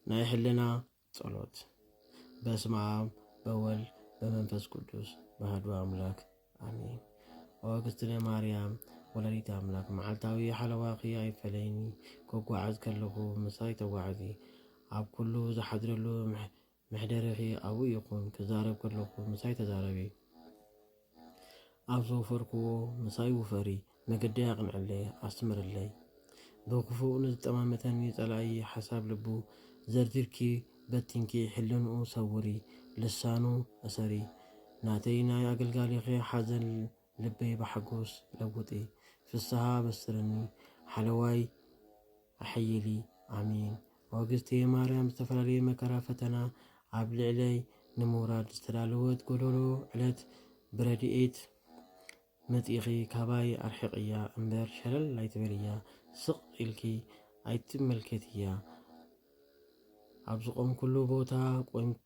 ናይ ሕልና ጸሎት በስመ አብ በወልድ በመንፈስ ቅዱስ ባህዱ አምላክ አሜን። ወእግዝእትነ ማርያም ወላዲተ አምላክ መዓልታዊ ሓለዋኺ ኣይፈለይኒ። ከጓዓዝ ከለኹ ምሳይ ተጓዓዚ። ኣብ ኩሉ ዝሓድረሉ መሕደሪኺ ኣብኡ ይኹን፣ ክዛረብ ከለኹ ምሳይ ተዛረቢ፣ ኣብ ዝወፈርክዎ ምሳይ ውፈሪ፣ መገደይ ኣቕንዕለይ፣ ኣስምርለይ። ብኽፉእ ንዝጠማመተኒ ጸላኢ ሓሳብ ልቡ ዘርዚርኪ በቲንኪ ሕልንኡ ሰውሪ፣ ልሳኑ እሰሪ። ናተይ ናይ ኣገልጋሊኺ ሓዘን ልበይ ብሓጎስ ለውጢ ፍስሃ ኣበስርኒ ሓለዋይ ኣሐይሊ ኣሜን። ኦግዝቴ ማርያም ዝተፈላለየ መከራ ፈተና ኣብ ልዕለይ ንምውራድ ዝተዳለወት ጎዶሎ ዕለት ብረድኤት መጺእኺ ካባይ ኣርሕቅያ እምበር ሸለል ኣይትበልያ ስቅ ኢልኪ ኣይትመልከትያ ኣብ ዝቆምኩሉ ቦታ ቆምኪ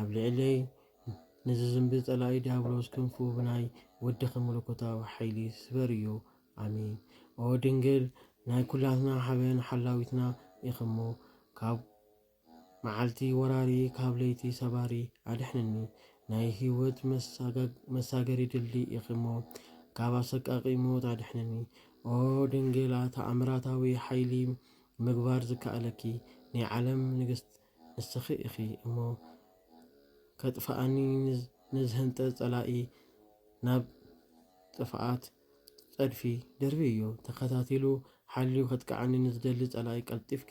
ኣብ ልዕለይ ንዝዝምቢ ጸላኢ ድያብሎስ ክንፉ ብናይ ወድኺ መለኮታዊ ሓይሊ ስበር እዩ። ኣሜን። ኦ ድንግል ናይ ኩላትና ሓበን ሓላዊትና ኢኺ'ሞ ካብ መዓልቲ ወራሪ ካብ ለይቲ ሰባሪ ኣድሕንኒ። ናይ ህይወት መሳገሪ ድልድል ኢኺ'ሞ ካብ ኣሰቃቂ ሞት ኣድሕንኒ። ኦ ድንግል ተኣምራታዊ ሓይሊ ምግባር ዝከኣለኪ ናይ ዓለም ንግስት ንስኺ ኢኺ እሞ ከጥፍኣኒ ንዝህንጠ ጸላኢ ናብ ጥፍኣት ጸድፊ ደርብይዮ። ተኸታቲሉ ሓልዩ ከጥቅዓኒ ንዝደሊ ጸላኢ ቀልጢፍኪ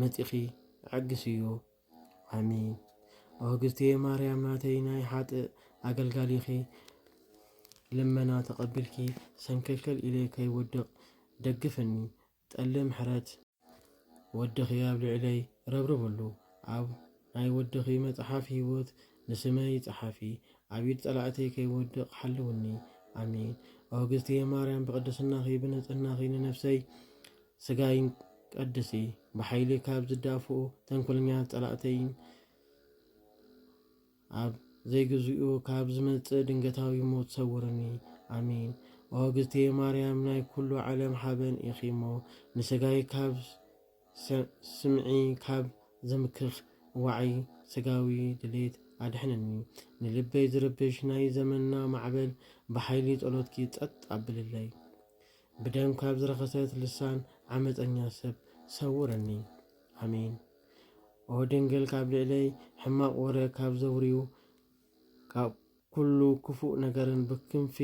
መጺኺ ኣዕግስዮ። ኣሜን። ኦ እግዝእትየ ማርያም ናተይ ናይ ሓጥእ ኣገልጋሊኺ ልመና ተቐቢልኪ ሰንከልከል ኢለ ከይወድቕ ደግፍኒ። ጠሊ ምሕረት ወድኺ ኣብ ልዕለይ ረብርብሉ ኣብ ናይ ወድኺ መጽሓፍ ሂወት ንስመይ ጸሓፊ ኣብ ኢድ ጸላእተይ ከይወድቅ ሓልውኒ ኣሜን ኦ እግዝትየ ማርያም ብቅድስናኺ ብንጽህናኺ ንነፍሰይ ስጋይን ቀድሲ ብሓይሊ ካብ ዝዳፍኡ ተንኮለኛታት ጸላእተይን ኣብ ዘይግዚኡ ካብ ዝመጽእ ድንገታዊ ሞት ሰውርኒ ኣሜን። ኦ እግዝእትየ ማርያም ናይ ኩሉ ዓለም ሓበን ኢኺ እሞ ንስጋይ ካብ ስምዒ ካብ ዘምክኽ ዋዒ ስጋዊ ድሌት ኣድሕንኒ ንልበይ ዝርብሽ ናይ ዘመንና ማዕበል ብሓይሊ ጸሎትኪ ጸጥ ኣብልለይ ብደም ካብ ዝረኸሰት ልሳን ዓመፀኛ ሰብ ሰውርኒ ኣሜን። ኦ ድንግል ካብ ልዕለይ ሕማቕ ወረ ካብ ዘውርዩ ካብ ኩሉ ክፉእ ነገርን ብክንፊ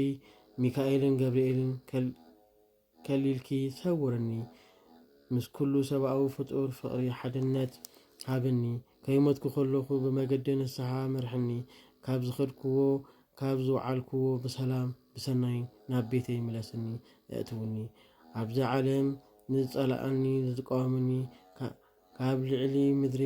ሚካኤልን ገብርኤልን ከል ከሊልኪ ሰውርኒ ምስ ኩሉ ሰብኣዊ ፍጡር ፍቕሪ ሓድነት ሃብኒ ከይሞትኩ ከለኹ ብመገዲ ንስሓ ምርሕኒ ካብ ዝኸድክዎ ካብ ዝውዓልክዎ ብሰላም ብሰናይ ናብ ቤተይ ምለስኒ እእትውኒ ኣብዚ ዓለም ንዝጸልኣኒ ንዝቃወመኒ ካብ ልዕሊ ምድሪ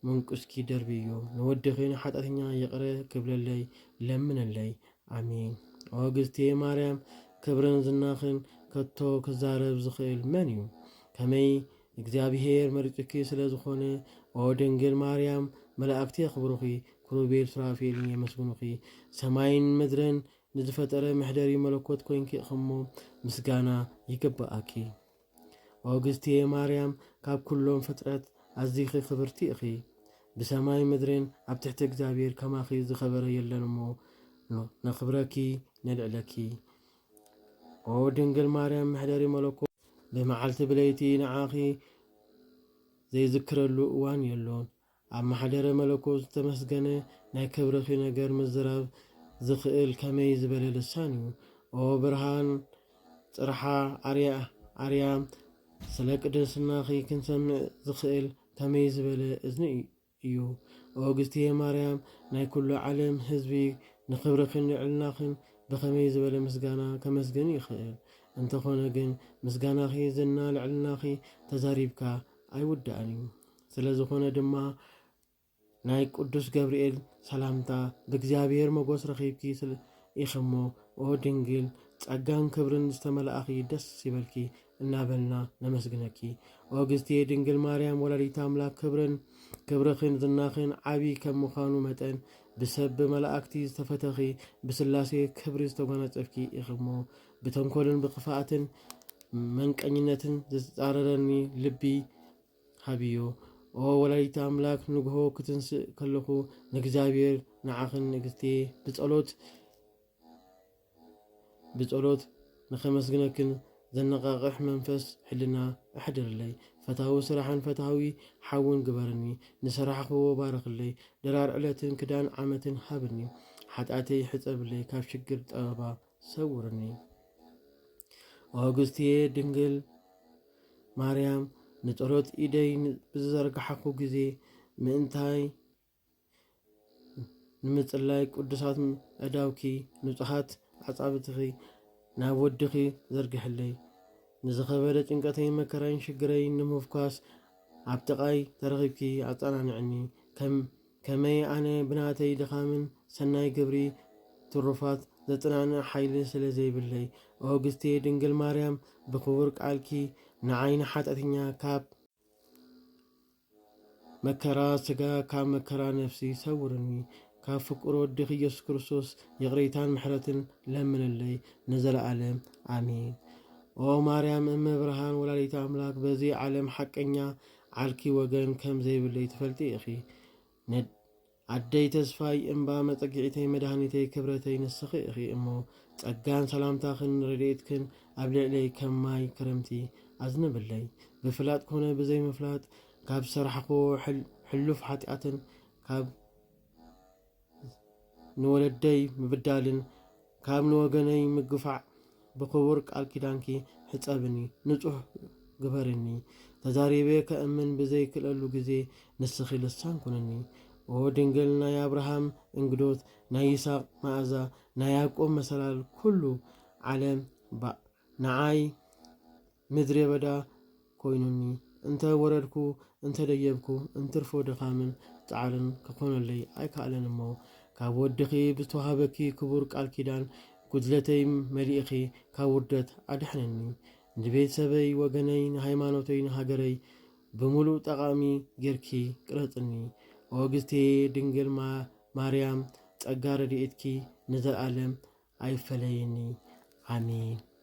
መንቁስኪ ደርብዮ ንወድኺ ንሓጢኣተኛ ይቕረ ክብለለይ ለምነለይ ኣሜን ኦ ግዝቴ ማርያም ክብርን ዝናኽን ከቶ ክዛረብ ዝኽእል መን እዩ ከመይ እግዚኣብሄር መሪጹኪ ስለ ዝኾነ ኦ ድንግል ማርያም መላእክቲ የኽብሩኺ ክሩቤል ሱራፌልን የመስግኑኺ ሰማይን ምድርን ንዝፈጠረ መሕደሪ መለኮት ኮይንኪ እኽሞ ምስጋና ይግበኣኪ ኦግስትየ ማርያም ካብ ኩሎም ፍጥረት ኣዚኺ ክብርቲ እኺ ብሰማይ ምድርን ኣብ ትሕቲ እግዚኣብሔር ከማኺ ዝኸበረ የለን እሞ ነኽብረኪ ነልዕለኪ ኦ ድንግል ማርያም መሕደሪ መለኮት ብመዓልቲ ብለይቲ ንዓኺ ዘይዝክረሉ እዋን የሎን ኣብ ማሕደረ መለኮት ዝተመስገነ ናይ ክብርኺ ነገር ምዝራብ ዝኽእል ከመይ ዝበለ ልሳን እዩ ኦ ብርሃን ጽርሓ ኣርያ ኣርያም ስለ ቅድስናኺ ክንሰምዕ ዝኽእል ከመይ ዝበለ እዝኒ እዩ ኦ እግዝእትየ ማርያም ናይ ኩሉ ዓለም ህዝቢ ንኽብርኽን ልዕልናኽን ብኸመይ ዝበለ ምስጋና ከመስግን ይኽእል እንተኾነ ግን ምስጋናኺ ዝና ልዕልናኺ ተዛሪብካ ኣይውዳእን እዩ ስለ ዝኾነ ድማ ናይ ቅዱስ ገብርኤል ሰላምታ ብእግዚኣብሔር መጎስ ረኺብኪ ኢኽሞ ኦ ድንግል ጸጋን ክብርን ዝተመላእኺ ደስ ይበልኪ እናበልና ነመስግነኪ። ኦ ግዝቴ ድንግል ማርያም ወላዲት ኣምላክ ክብርን ክብርኽን ዝናኽን ዓቢ ከም ምዃኑ መጠን ብሰብ ብመላእክቲ ዝተፈተኺ ብስላሴ ክብሪ ዝተጓናጸፍኪ ኢኽሞ ብተንኮልን ብክፍኣትን መንቀኝነትን ዝተጻረረኒ ልቢ ሃብዮ ኦ ወላዲተ ኣምላክ ንግሆ ክትንስእ ከለኩ ንእግዚኣብሔር ንዓክን ንግስትየ ብጸሎት ብጸሎት ንከመስግነክን ዘነቃቅሕ መንፈስ ሕልና ኣሕድርለይ ፈታዊ ስራሕን ፈታዊ ሓውን ግበርኒ ንሰራሕክዎ ባርክለይ ድራር ዕለትን ክዳን ዓመትን ሃብኒ ሓጥኣተይ ሕጸብለይ ካብ ሽግር ጠበባ ሰውርኒ ኦግስትየ ድንግል ማርያም ንጸሎት ኢደይ ብዝዘርግሓኩ ግዜ ምእንታይ ንምጽላይ ቅዱሳት ኣእዳውኪ ንጹሓት ኣጻብትኺ ናብ ወድኺ ዘርግሕለይ ንዝኸበደ ጭንቀተይ መከራይን ሽግረይ ንምፍኳስ ኣብ ጥቓይ ተረኺብኪ ኣጸናንዕኒ ከም ከመይ ኣነ ብናተይ ድኻምን ሰናይ ግብሪ ትሩፋት ዘጽናንዕ ሓይሊ ስለ ዘይብለይ ኦግስቴ ድንግል ማርያም ብክቡር ቃልኪ ንዓይ ንሓጥያተኛ ካብ መከራ ስጋ ካብ መከራ ነፍሲ ሰውርኒ ካብ ፍቁር ወድኺ ኢየሱስ ክርስቶስ ይቕሬታን ምሕረትን ለምንለይ ንዘለዓለም ኣሜን። ኦ ማርያም እመ ብርሃን ወላዲተ ኣምላክ በዚ ዓለም ሓቀኛ ዓርኪ ወገን ከም ዘይብለይ ትፈልጢ ኢኺ ነድ ኣደይ ተስፋይ እምባ መጸጊዒተይ መድሃኒተይ ክብረተይ ንስኺ ኢኺ እሞ ጸጋን ሰላምታኽን ረድኤትክን ኣብ ልዕለይ ከም ማይ ክረምቲ ኣዝንብለይ ብፍላጥ ኮነ ብዘይምፍላጥ ካብ ዝሰራሕክዎ ሕሉፍ ሓጢኣትን ካብ ንወለደይ ምብዳልን ካብ ንወገነይ ምግፋዕ ብኽቡር ቃል ኪዳንኪ ሕፀብኒ ንፁህ ግበርኒ ተዛሪበ ከእምን ብዘይክእለሉ ግዜ ንስኺ ልሳን ኩንኒ ኦ ድንግል ናይ ኣብርሃም እንግዶት ናይ ይስሐቅ መኣዛ ናይ ያዕቆብ መሰላል ኩሉ ዓለም ባእ ንዓይ ምድሬበዳ ኮይኑኒ እንተ ወረድኩ እንተ ደየብኩ እንትርፎ ድኻምን ጻዕርን ክኾነለይ ኣይከኣለን እሞ ካብ ወድኺ ብዝተዋህበኪ ክቡር ቃል ኪዳን ጉድለተይ መሊእኺ ካብ ውርደት ኣድሕንኒ ንቤተሰበይ ወገነይ ንሃይማኖተይ ንሃገረይ ብምሉእ ጠቓሚ ጌርኪ ቅረጽኒ ኦግዝቴ ድንግል ማርያም ጸጋ ረድኤትኪ ንዘልኣለም ኣይፈለየኒ ኣሜን።